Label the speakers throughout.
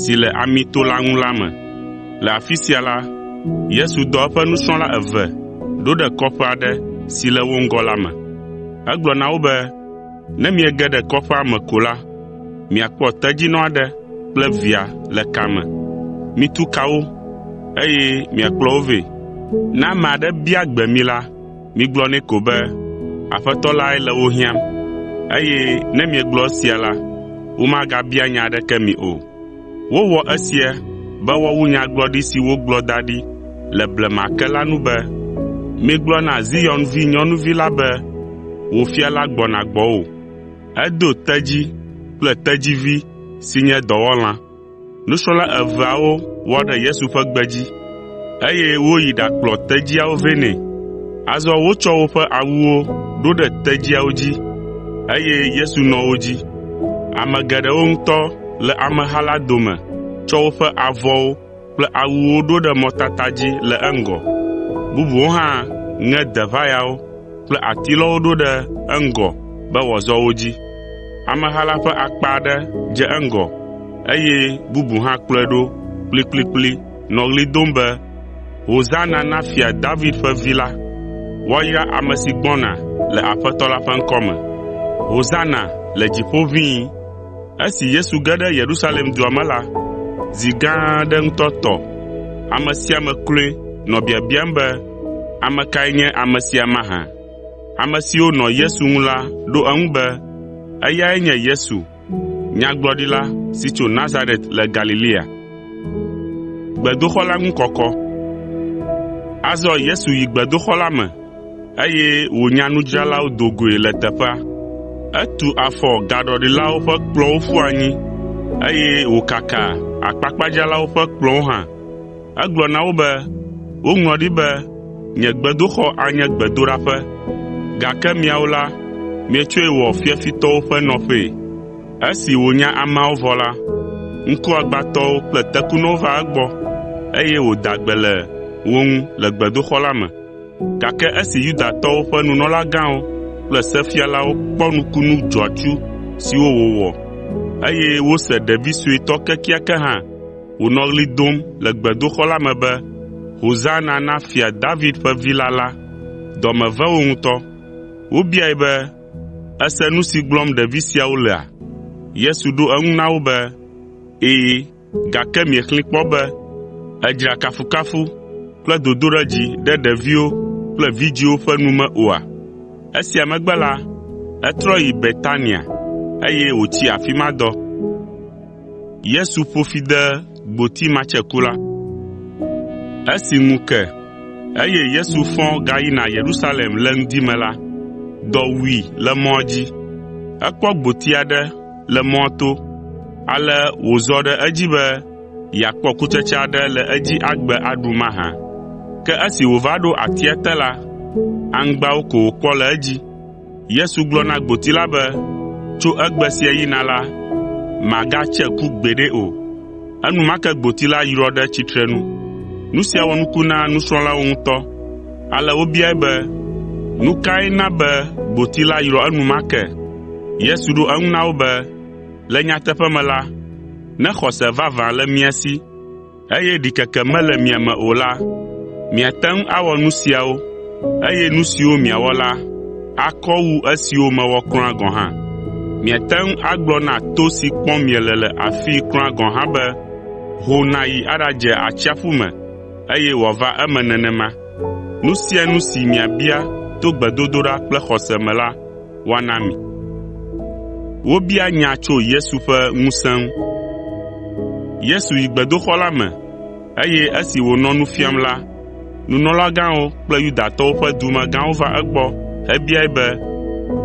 Speaker 1: si le Amito la ŋu la me. Le afi sia la, Yesu dɔ eƒe nusrɔ̃la eve ɖo ɖe kɔƒe aɖe si le wo ŋgɔ la me. Egblɔ na wo be, “Ne miege ɖe kɔƒea me ko la, miakpɔ tedzinɔ aɖe kple via le ka me. Mitu ka wo, eye miakplɔ wo vɛ. Ne ame aɖe bia gbe mi la, Migblɔ nɛ ko be, ‘Aƒetɔ lae le wo hiãm.’ Eye ne miegblɔ esia la, womagabia nya aɖeke mi o. Wowɔ esia be woawu nyagblɔɖi si wogblɔ da ɖi le blema ke la nu be, “Migblɔ na Zion vinyɔnuvi la be, ‘Wò Fia la gbɔna gbɔwò. Edo tedzi kple tedzivi si nye dɔwɔlã.’ ” Nusrɔ̃la eveawo wɔ ɖe Yesu ƒe gbe dzi, eye woyi ɖakplɔ tedziawo vɛ nɛ. Azɔ wotsɔ woƒe awuwo ɖo ɖe tedziawo dzi, eye Yesu nɔ wo dzi. Ame geɖewo ŋutɔ le ameha la dome tsɔ woƒe avɔwo kple awuwo ɖo ɖe mɔtata dzi le eŋgɔ. Bubuwo hã ŋe deʋayawo kple atilɔwo ɖo ɖe eŋgɔ be wòazɔ wo dzi. Ameha la ƒe akpa aɖe dze eŋgɔ, eye bubu hã kplɔe ɖo kplikplikpli nɔ ɣli dom be, “Hosana na Fia David ƒe Vi la!” “Woayra ame si gbɔna le Aƒetɔ la ƒe ŋkɔ me!” “Hosana le dziƒo ʋĩi!” Esi Yesu ge ɖe Yerusalem dua me la, zi gã aɖe ŋutɔ tɔ. Ame sia ame kloe nɔ biabiam be, “Ame kae nye ame sia mahã?” Ame siwo nɔ Yesu ŋu la ɖo eŋu be, “Eyae nye Yesu, nyagblɔɖila si tso Nazaret le Galilea.” Azɔ Yesu yi gbedoxɔ la me, eye wònya nudzralawo do goe le teƒea. Etu afɔ gaɖɔlilawo ƒe kplɔ̃wo ƒu anyi, eye wòkaka akpakpadzralawo ƒe kplɔ̃wo hã. Egblɔ na wo be, “Woŋlɔ ɖi be, ‘Nye gbedoxɔ anye gbedoɖaƒe,’ gake miawo la, mietsɔe wɔ ‘fiafitɔwo ƒe nɔƒee.’ ” Esi wònya ameawo vɔ la, ŋkuagbãtɔwo kple tekunɔwo va egbɔ, eye wòda gbe le wo ŋu le gbedoxɔ la me. Gake esi Yudatɔwo ƒe nunɔlagãwo kple sefialawo kpɔ nukunu dzɔatsu siwo wòwɔ, eye wose ɖevi suetɔ kekeake hã, wònɔ ɣli dom le gbedoxɔ la me be, “Hosana na Fia David ƒe Vi la” la, dɔ me ve wo ŋutɔ. Wobiae be, “Èse nu si gblɔm ɖevi siawo lea?” Yesu ɖo eŋu na wo be, “Ɛ̃, gake miexlẽe kpɔ be, “ ‘Èdzra kafukafu kple dodoɖedzi ɖe ɖeviwo kple vidzĩwo ƒe nu me’ oa?” Esia megbe la, etrɔ yi Betania, eye wòtsi afi ma dɔ. Yesu ƒo fi de gboti matsekula. Esi ŋu ke, eye Yesu fɔ gayina Yerusalem le ŋdi me la, dɔ wui le mɔa dzi. Ekpɔ gboti aɖe le mɔa to, ale wòzɔ ɖe edzi be yeakpɔ kutsetse aɖe le edzi agbe aɖu mahã. Ke esi wòva ɖo atia te la, aŋgbawo ko wòkpɔ le edzi. Yesu gblɔ na gboti la be, “Tso egbe sia yina la, màgatse ku gbeɖe o.” Enumake gboti la yrɔ ɖe tsitrenu. Nu sia wɔ nuku na nusrɔ̃lawo ŋutɔ, ale wobiae be, “Nu kae na be gboti la yrɔ enumake?” Yesu ɖo eŋu na wo be, “Le nyateƒe me la, ne xɔse vavã le mia si, eye ɖikeke mele mia me o la, miate ŋu awɔ nu siawo, eye nu siwo miawɔ la akɔ wu esiwo mewɔ kura gɔ̃ hã. Miate ŋu agblɔ na to si kpɔm miele le afii kura gɔ̃ hã be, “Ho nàyi aɖadze atsiaƒu me,” eye wòava eme nenema. Nu sia nu si miabia to gbedodoɖa kple xɔse me la, woana mi. Wobia nya tso Yesu ƒe ŋusẽ ŋu. Yesu yi gbedoxɔ la me, eye esi wònɔ nu fiam la, nunɔlagãwo kple Yudatɔwo ƒe dumegãwo va egbɔ hebiae be,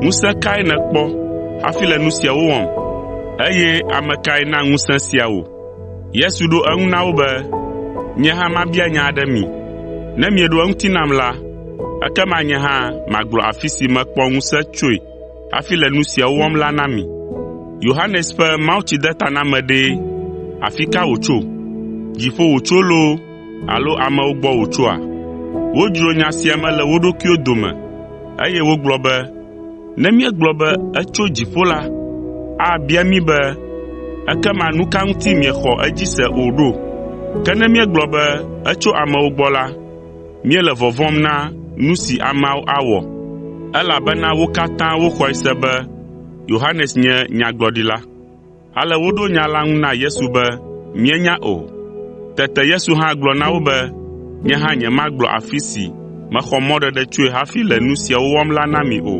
Speaker 1: “Ŋusẽ kae nèkpɔ hafi le nu siawo wɔm? Eye ame kae na ŋusẽ sia wò?” Yesu ɖo eŋu na wo be, “Nye hã mabia nya aɖe mi. Ne mieɖo eŋuti nam la, ekema nye hã magblɔ afi si mekpɔ ŋusẽ tsoe hafi le nu siawo wɔm la na mi. Yohanes ƒe mawutsidetaname ɖe, afi ka wòtso? Dziƒo wòtso loo alo amewo gbɔ wòtsoa?” Wodzro nya sia me le wo ɖokuiwo dome, eye wogblɔ be, Ne míegblɔ be etso dziƒo la, abia mí be, “Ekema nu ka ŋuti miexɔ edzi se o ɖo?” Ke ne míegblɔ be etso amewo gbɔ la, míele vɔvɔ̃m na nu si ameawo awɔ, elabena wo katã woxɔe se be Yohanes nye nyagblɔɖila. Ale woɖo nya la ŋu na Yesu be, “Míenya o.” Tete Yesu hã gblɔ na wo be, “Nye hã nyemagblɔ afi si mexɔ mɔɖeɖe tsoe hafi le nu siawo wɔm la na mi o.”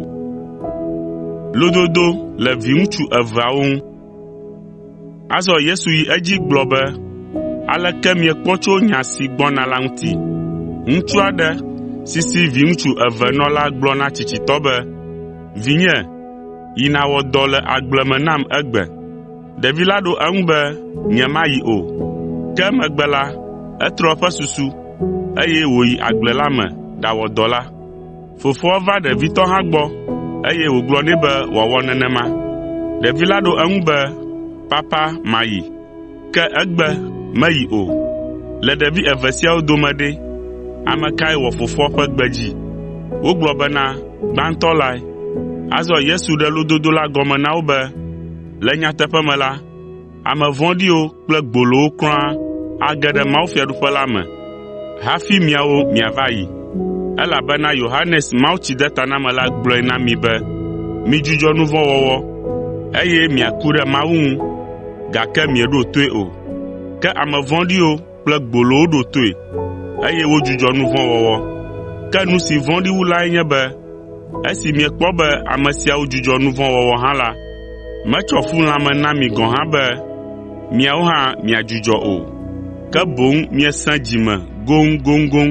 Speaker 1: Azɔ Yesu yi edzi gblɔ be, “Aleke miekpɔ tso nya si gbɔna la ŋuti? Ŋutsu aɖe si si viŋutsu eve nɔ la gblɔ na tsitsitɔ be, ‘Vinye, Yi nàwɔ dɔ le agble me nam egbe.” Ɖevi la ɖo eŋu be, “Nyemayi o.” Ke emegbe la, etrɔ eƒe susu, eye wòyi agble la me ɖawɔ dɔ la. Fofoa va ɖevitɔ hã gbɔ, eye wògblɔ nɛ be wòawɔ nenema. Ɖevi la ɖo eŋu be, “Papa, mayi.” Ke egbe meyi o. Le ɖevi eve siawo dome ɖe, ame kae wɔ fofoa ƒe gbe dzi?” Wogblɔ bena, “Gbãtɔ lae.” Azɔ Yesu ɖe lododo la gɔme na wo be, “Le nyateƒe me la, ame vɔ̃ɖiwo kple gbolowo kura age ɖe mawufiaɖuƒe la me. hafi miawo miava yi. Elabena Yohanes Mawutsidetanamela gblɔe na mi be, ‘Midzudzɔ nu vɔ̃ wɔwɔ, eye miaku ɖe Mawu ŋu,’ gake mieɖo toe o. Ke ame vɔ̃ɖiwo kple gbolowo ɖo toe, eye wodzudzɔ nu vɔ̃ wɔwɔ. Ke nu si vɔ̃ɖi wu lae nye be Esi miekpɔ be ame siawo dzudzɔ nu vɔ̃ wɔwɔ hã la, metsɔ fu lãme na mi gɔ̃ hã be miawo hã miadzudzɔ o, ke boŋ miesẽ dzi me goŋgoŋgoŋ.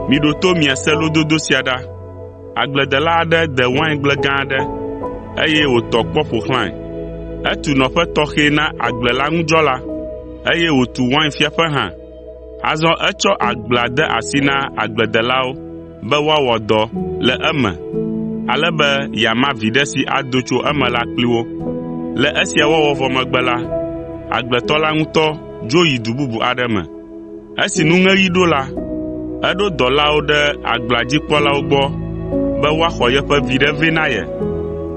Speaker 1: Miɖo to miase lododo sia ɖa. Agbledela aɖe de waingble gã aɖe, eye wòtɔ kpɔ ƒo xlãe. Etu nɔƒe tɔxɛ na agble la ŋu dzɔla, eye wòtu wainfiaƒe hã. Azɔ etsɔ agblea de asi na agbledelawo be woawɔ dɔ le eme ale be yeama viɖe si ado tso eme la kpli wo. Le esia wɔwɔ vɔ megbe la, agbletɔ la ŋutɔ dzo yi du bubu aɖe me. Esi nuŋeɣi ɖo la, eɖo dɔlawo ɖe agblea dzi kpɔlawo gbɔ be woaxɔ yeƒe viɖe vɛ na ye.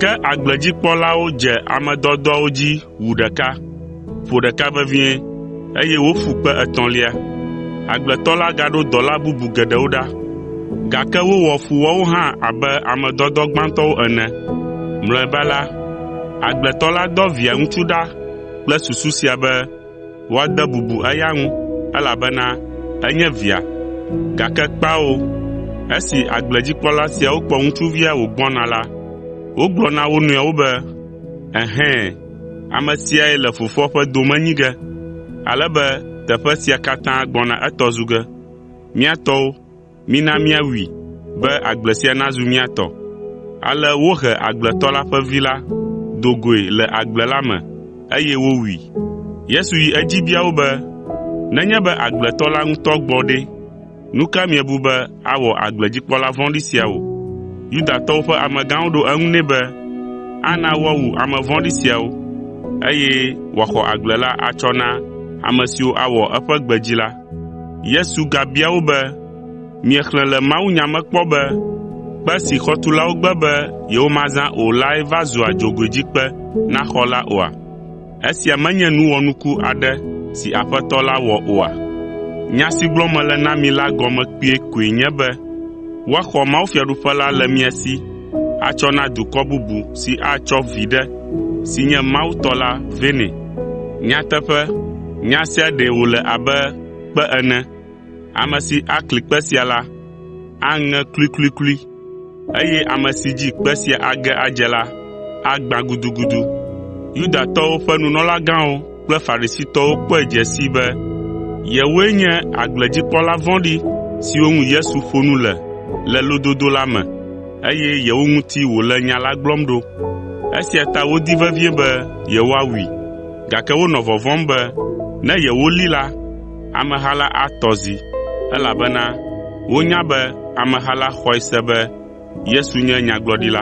Speaker 1: Ke agble dzi kpɔlawo dze ame dɔdɔawo dzi wu ɖeka, ƒo ɖeka vevie, eye woƒu kpe etɔ̃lia. Agbletɔ la gaɖo dɔla bubu geɖewo ɖa, gake wowɔ fu woawo hã abe ame dɔdɔ gbãtɔwo ene. Mlɔeba la, agbletɔ la dɔ Via ŋutsu ɖa kple susu sia be, Woade bubu eya ŋu, elabena enye via. Gake kpao, esi agbledzikpɔla siawo kpɔ ŋutsuvia wògbɔna la, wogblɔ na wo nɔewo be, “Ɛhɛ̃, ame siae le fofoa ƒe dome nyi ge, ale be teƒe sia katã gbɔna etɔ zu ge. Mía tɔwo!” Mina míawui, be agble sia nazu mía tɔ.” Ale wohe agbletɔ la ƒe vi la do goe le agble la me, eye wowui. Yesu yi edzi bia wo be, “Nenye be agbletɔ la ŋutɔ gbɔ ɖe, nu ka miebu be awɔ agbledzikpɔla vɔ̃ɖi sia wɔ?” Yudatɔwo ƒe amegãwo ɖo eŋu nɛ be, “Ana woawu ame vɔ̃ɖi siawo, eye wòaxɔ agble la atsɔ na ame siwo awɔ eƒe gbe dzi la.” Yesu gabia wo be, “Miexlẽ le mawunya me kpɔ be, “ ‘Kpe si xɔtulawo gbe be yewomazã o lae va zua dzogoedzikpe na xɔ la’ oa? Esia menye nu wɔnuku aɖe si Aƒetɔ la wɔ oa? Nya si gblɔm mele na mi la gɔme kpuie koe nye be, woaxɔ mawufiaɖuƒe la le mia si atsɔ na dukɔ bubu si atsɔ viɖe si nye Mawu tɔ la vɛ nɛ. Nyateƒe, nya sia ɖee wòle abe kpe ene. Ame si akli kpe sia la, aŋe kluikluiklui, eye ame si dzi kpe sia age adze la, agbã gudugudu.” kple Farisitɔwo kpɔe dze sii be yewoe nye agbledzikpɔla vɔ̃ɖi siwo ŋu Yesu ƒo nu le le lododo la me, eye yewo ŋuti wòle nya la gblɔm ɖo. Esia ta wodi vevie be yewoawui, gake wonɔ vɔvɔ̃m be ne yewolée la, ameha la atɔ zi, elabena wonya be ameha la xɔe se be Yesu nye nyagblɔɖila.